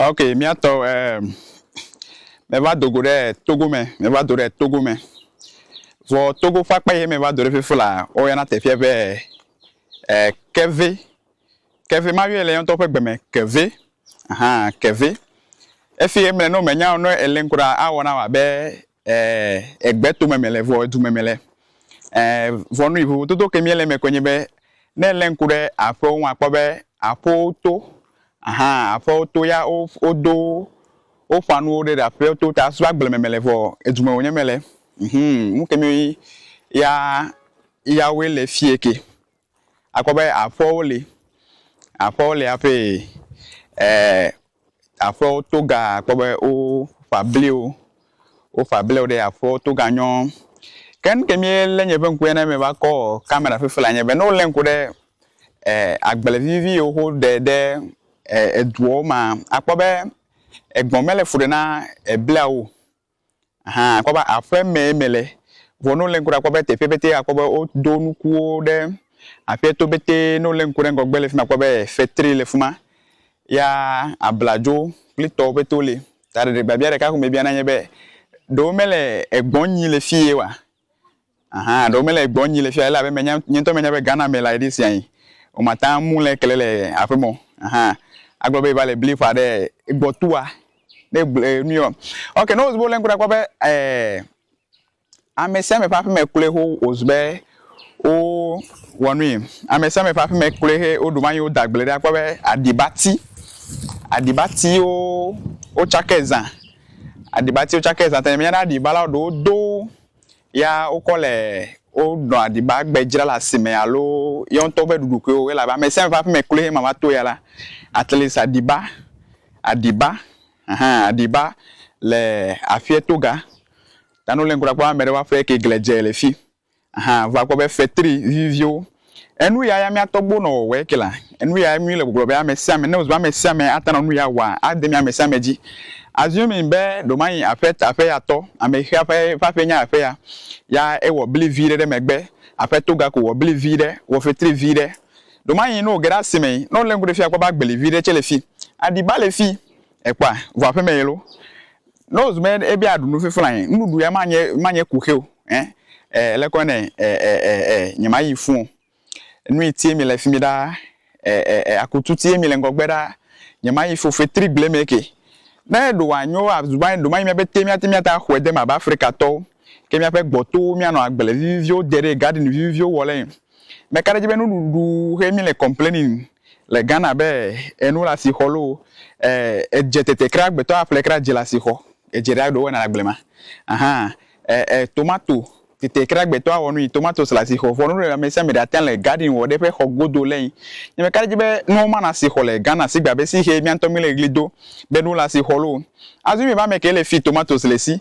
ok míatɔ ɛɛ meva do go ɖe togo me meva do ɖe togo me vɔ togo ƒe akpa yi meva do ɖe fefo la woyɔna teƒea be ɛɛ kɛve Ke ve mayɔɛ le eyaŋtɔ ƒe gbeme ke ve. Aha, ke ve. Efi ye mle ne womenya o ne ele ŋkuɖa awɔ na wò abe e egbe tome mele vɔ edu me mele. E vɔ nui vovototo ke miele eme koe nye be ne ele ŋku ɖe aƒewo ŋu akpɔ be aƒewo to. Aha, aƒewo to ya wo wodo woƒa nuwo ɖe ɖe aƒewo to ta so agble me mele vɔ edu me wonye mele. Ŋhum, nuke mi ya yawoe le fie ke. Akpɔ be aƒewo li, aƒewo li hafi e aƒewo to ga akpɔ be woƒa bliwo, woƒa bliwo ɖe aƒewo to ga nyɔ. Ke nu ke míelé nye ƒe ŋkue ne meva kɔ kamera fifi le anye be ne wolé ŋku ɖe e agble vivivi yiwo woɖe ɖe e eduwo mea, akpɔ be egbɔ̃ mele fu ɖe na ebliawo o. Hã akpɔ be aƒemee mele, vɔ ne wolé ŋku ɖe akpɔ be teƒe pɛtɛ akpɔ be wodo nukuwo ɖe aƒea to pɛtɛ, ne wolé ŋku ɖe ŋgɔgbe le fi ma akpɔ be fetri le fi ma, ya abladzo kple tɔwo pɛtɛ woli. Ta ɖeɖe biabia ɖeka ko mebia na enye be, Ɖe womele egbɔ̃ nyim le fi ye oa? Ahan ɖewo mele egbɔ nyi le fia elabe menya nye ŋutɔ menya be Ghana me la eɖe sia yi wo mata ŋu le kele le aƒe mɔ ahan agblɔ be eva le bli ƒa ɖe egbɔ tua ne gble nuyɔ ok ne wo le ŋku ɖa kpɔ be eh ame sia ame ƒe aƒe me kloe ho wo zu be wo wɔ nui ame sia ame ƒe aƒe me kloe he wo ɖu manyi wo da gble ɖe akpɔ be aɖibati aɖibati wo wo tsake zã aɖibati wo tsake zã ta menya be aɖiba la wo ɖewo do Ya wokɔ le wonɔ aɖiba gbe dzra le asime alo yewo ŋutɔ woƒe ɖuɖukuiwo o elabe ame sia ame ƒe aƒeme kloe ema va to ya la atleast aɖiba, aɖiba hã aɖiba le aƒea to ga ta ne wole ŋku ɖa kpɔm ame ɖewo ƒe aƒe ke glia dze le fi hã va kpɔ be fetri viviviwo Enu ya ya mía tɔgbuiwo nɔ wɔwɔe ke la. Enu yae mí le gbɔgblɔ be ame sia ame, ne wòzu be ame sia ame ate nɔ nu ya wɔa, ade mía ame sia ame dzi. Assuming be ɖewomayi aƒe, aƒeya tɔ, amexea ƒe, ƒe aƒee nye aƒeya, ya ewɔ bli vi ɖe ɖe megbe, aƒetɔ gako wɔ bli vi ɖe, wɔ fetri vi ɖe. Ɖewomayi ne wòge ɖe asimee, ne wolé ŋku ɖe fi akpɔ be agbeli vi ɖe tsɛ le fi, aɖiba le fi, Ekpɔa? Vɔ aƒeme ye lo. Ne wozɔ be ebe aɖu nu fifla ɛ, nuɖuɖu ya ma nye ma nye kuxi o. Ɛ ɛ lekɔ nɛ ɛ ɛ ɛ ɛ nye ma yi fũ o. Nu yi tie mi le fimi ɖaa ɛ ɛ ɛ akutu tie mi le ŋgɔgbe ɖaa nye ma yi fũ fetri gble mɛ ke. Ne ɖo wa nyo a zu ba ɖo ma yi mía be te mía te mía ta xɔɛ de ma ba Afrika tɔwo ke mía ƒe gbɔtowo mía nɔ agble viviviwo de ɖe gadin viviviwo wɔ le ɛ. Meka ɖe edzi be nuɖuɖu xe mi le complaining le Ghana be enu le asixɔ loo, edze tete kra agbetɔ aƒle kra dze le asixɔ, edze ɖe aɖo wɔna le agble ma ahan e tomato tete kra agbetɔ awɔ nui tomatoes le asixɔ vɔ nuɖe amesiame ɖe ate le garden wɔ ɖe eƒe xɔ godo le yi nye meka ɖe edzi be nuwo ma le asixɔ le Ghana sigbe abe si xe miantɔ mi le ɣli do be nu le asixɔ loo. Azui mi va meke le fi tomatoes le si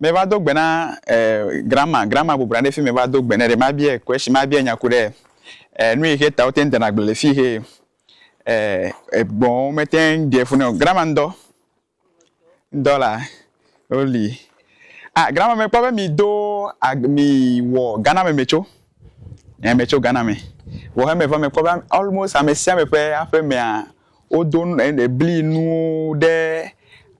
Me va do gbe na eh grandma, grandma bɔbɔ nɔ anyi ɖe fi me va do gbe nɛ ɖe mabiae question, mabiae nya ku ɖe eh nuyixe ta wote ŋ dena agble le fixe eh egbɔ̃wo mete ŋ ɖe fu nɛ o. Grandma ŋdɔ, ŋdɔ la wo li. Ah grandma me kpɔ be mi do ag mi wɔ Ghana me me tso, eh me tso Ghana me. Vɔ he me va me kpɔ be almost ame sia ame ƒe aƒe mea wo do nu eh bli nuwo ɖe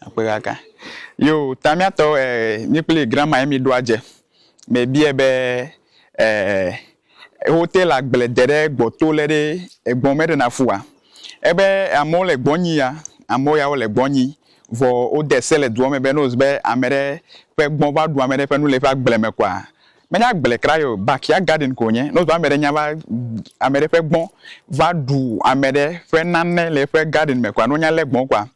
Akpegãgã. Yo ta míatɔ e mí kpli grandma ye míɖo adze. Mebiɛ be e wote le agble de ɖe gbɔ to le ɖe egbɔ mɛ ɖe na fua? Ebe amewo le gbɔ nyi ya. Amewo ya wo le gbɔ nyi. Vɔ wode se le dua me be ne wo se be amɛɖe ƒe gbɔ va ɖu amɛɖe ƒe nu le eƒe agble me kɔa, Menye agble kra ye o, backyard garden ko wònye. Ne wozɔ ame ɖe nya va ame ɖe ƒe gbɔ̃ va ɖu ame ɖe ƒe nane le eƒe garden me kɔa, ne wonya lé gbɔ̃ kɔa,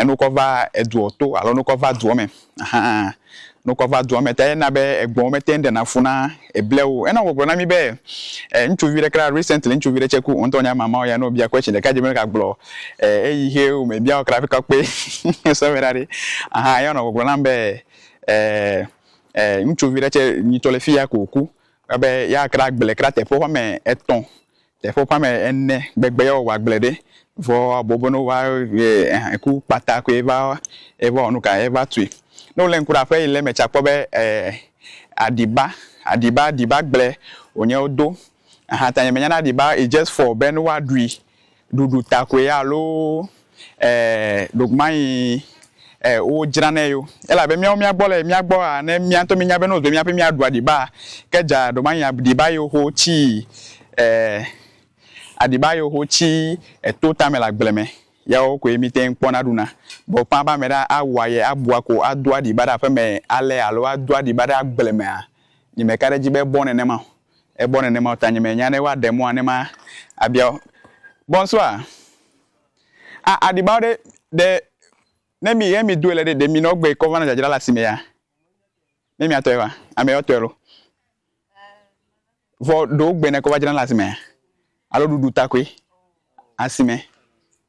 ne wokɔ va edua to alo ne wokɔ va dua me hã, ne wokɔ va dua me ta ye na be egbɔ̃wo mete ŋu ɖena fu na eblia wo o. Ena wògblɔ na mí be ŋutsuvi ɖe kra recently ŋutsuvi ɖe tsɛ ku, wò ŋutɔ wònye mama wo ya ne wòbia question ɖeka dze be meka gblɔ eyi xe o me bia wo kra hafi kɔ kpe sɔhɛ ɖaɖɛ. Ahan eya wònɔ gbɔgblɔ nam be eh. ɛɛ ŋutsuvi ɖe tsɛ yi tsɔ le fi ya ko wòku be yeakra agble kra teƒe woƒe ame etɔ̃, teƒe woƒe ame ene gbegbe ye wòawɔ agble ɖe. Vɔ wòabɔ be ne woava ɛɛ ku kpata koe va wɔ nu ka, eva tui. Ne wolé ŋku ɖe aƒe yi le eme tsɛ akpɔ be ɛɛ aɖiba, aɖiba, aɖibagble wònye wodo. Ahan ta nye menyana aɖiba, it's just for be ne woaɖui ɖuɖu ta koe alo e ɖokumayi e wodzranɛ yo. Elabe míawo mía gbɔ le mía gbɔ a ne mía ŋutɔ míenya be ne wozɔe mía ƒe mía ɖua ɖiba a ke dza ɖomayi a ɖiba yi woxo tsi e aɖiba yi woxo tsi eto tame le agble me yawo koe mí te ŋu kpɔna ɖuna. Vɔ ƒã be ame ɖe a wua ye a bua ko a doa ɖiba ɖe aƒeme alea alo a doa ɖiba ɖe agble mea nyi me ka ɖe edzi be ebɔ nenema o. Egbɔ nenema o ta nye menya ne woaɖe mɔa ne ma abia wo. Bonsoir. Ah aɖibawo ɖe ɖe ne mi he mi doe le ɖe ɖe mi nɔ gbe kɔ va nɔ dzadzra le asime ya ne mia tɔe va ame yɔ tɔe lo vɔ ɖewo gbe ne kɔ va dzra le asimea alo ɖuɖu ta koe asime.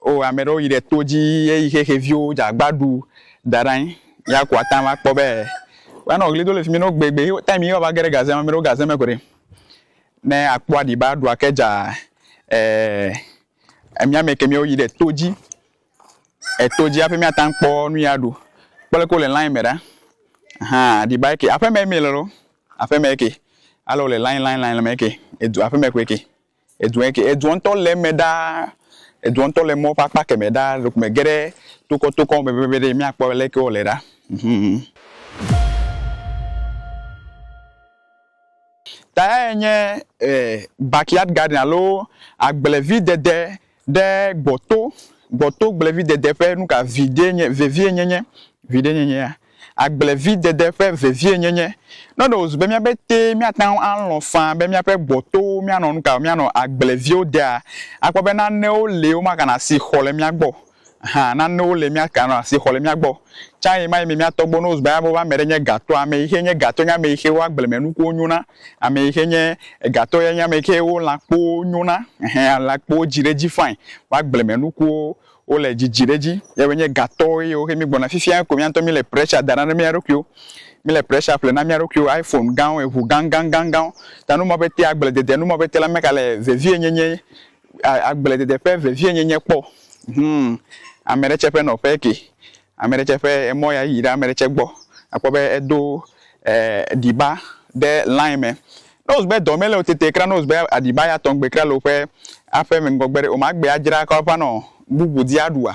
O ame ɖewo yi ɖe to dzi ye yi xexeviwo dze agba ɖu da ɖe anyi. Ya ko ate ŋu akpɔ be woanɔ ɣli do le fi mi nɔ gbegbe ye taim ye woava ge ɖe gaze me. Ame ɖewo gaze me ko ɖi. Ne akpɔ aɖi be aɖu ake dza e emia me ke miwo yi ɖe to dzi. Eto dzi hafi miate ŋu akpɔ nu yi aɖu. Kpɔ leke wole lain me ɖa. Aha aɖi ba eke. Aƒeme ye mi le loo. Aƒeme ye ke. Ale wole lain lain lain le me ye ke. Edu aƒeme koe ke. Edua ŋkee. Edua ŋutɔ le eme ɖaa. Edua ŋutɔ le mɔ ƒe akpa kemɛ ɖaa. Ɖeko mège ɖe tokɔ tokɔ me pɛpɛpɛ ɖe míakpɔ aleke wòle ɖa. Mhmm. Ta yae nye e backyard garden alo agblevidede Ɖe gbɔto, gbɔto gblevidede ƒe nuka videe nye, vevie nyenye, viɖe nyenyea? Agblevidede ƒe vevie nyenye. Ne ɖe wòzu be mía betee míate ŋu alɔ̃ faa be míaƒe gbɔtowo míanɔ nuka o, míanɔ agblevio dea, akpɔ be nanewo li womaganɔ asi xɔ le mía gbɔ o. Hã, nanewo li míaganɔ asi xɔ le mía gbɔ. Tsã ɣemaɣi me mía tɔgbuiwo, ne wozu be alebe woƒe ame ɖe nye gatɔa, ame yi xe nye gatɔ nye ame yi xe woƒe agblemenukuwo nyo na. Ame yi ke nye egatɔ ya nye ame yi ke wo lãkpowo nyo na. Ɛhɛɛ, lãkpowo dzi ɖe edzi fain. Wo agblemenukuwo, wole dzidzi ɖe edzi. Yɛwoe nye gatɔwo ye wohe mígbɔna. Fifiae ko mía ŋutɔ míle pressure dam ɖa na mía ɖokuiwo. Míle pressure ƒle na mía ɖokuiwo, iPhone gãwo, eŋu gãgãgãgãwo. Ta nu ma ƒe te agbledede, nu ma ƒe te la meka le vevienyenye, a, agbledede ƒe vevienyenye kpɔ o. Hũu, ame ɖe tsɛ ƒe nɔƒee kee. Ame ɖe tsɛ ƒe emɔ ya yi ɖe ame ɖe tsɛ gbɔ. Akpɔ be edo ɖiba ɖe line me. Ne wòzu be dɔ mele wò tete kura, ne wòzu be aɖiba ya tɔgbe kura le woƒe aƒe me ŋgɔgbe ɖe, womagbe adzra kɔ ava nɔ bubu di aɖua?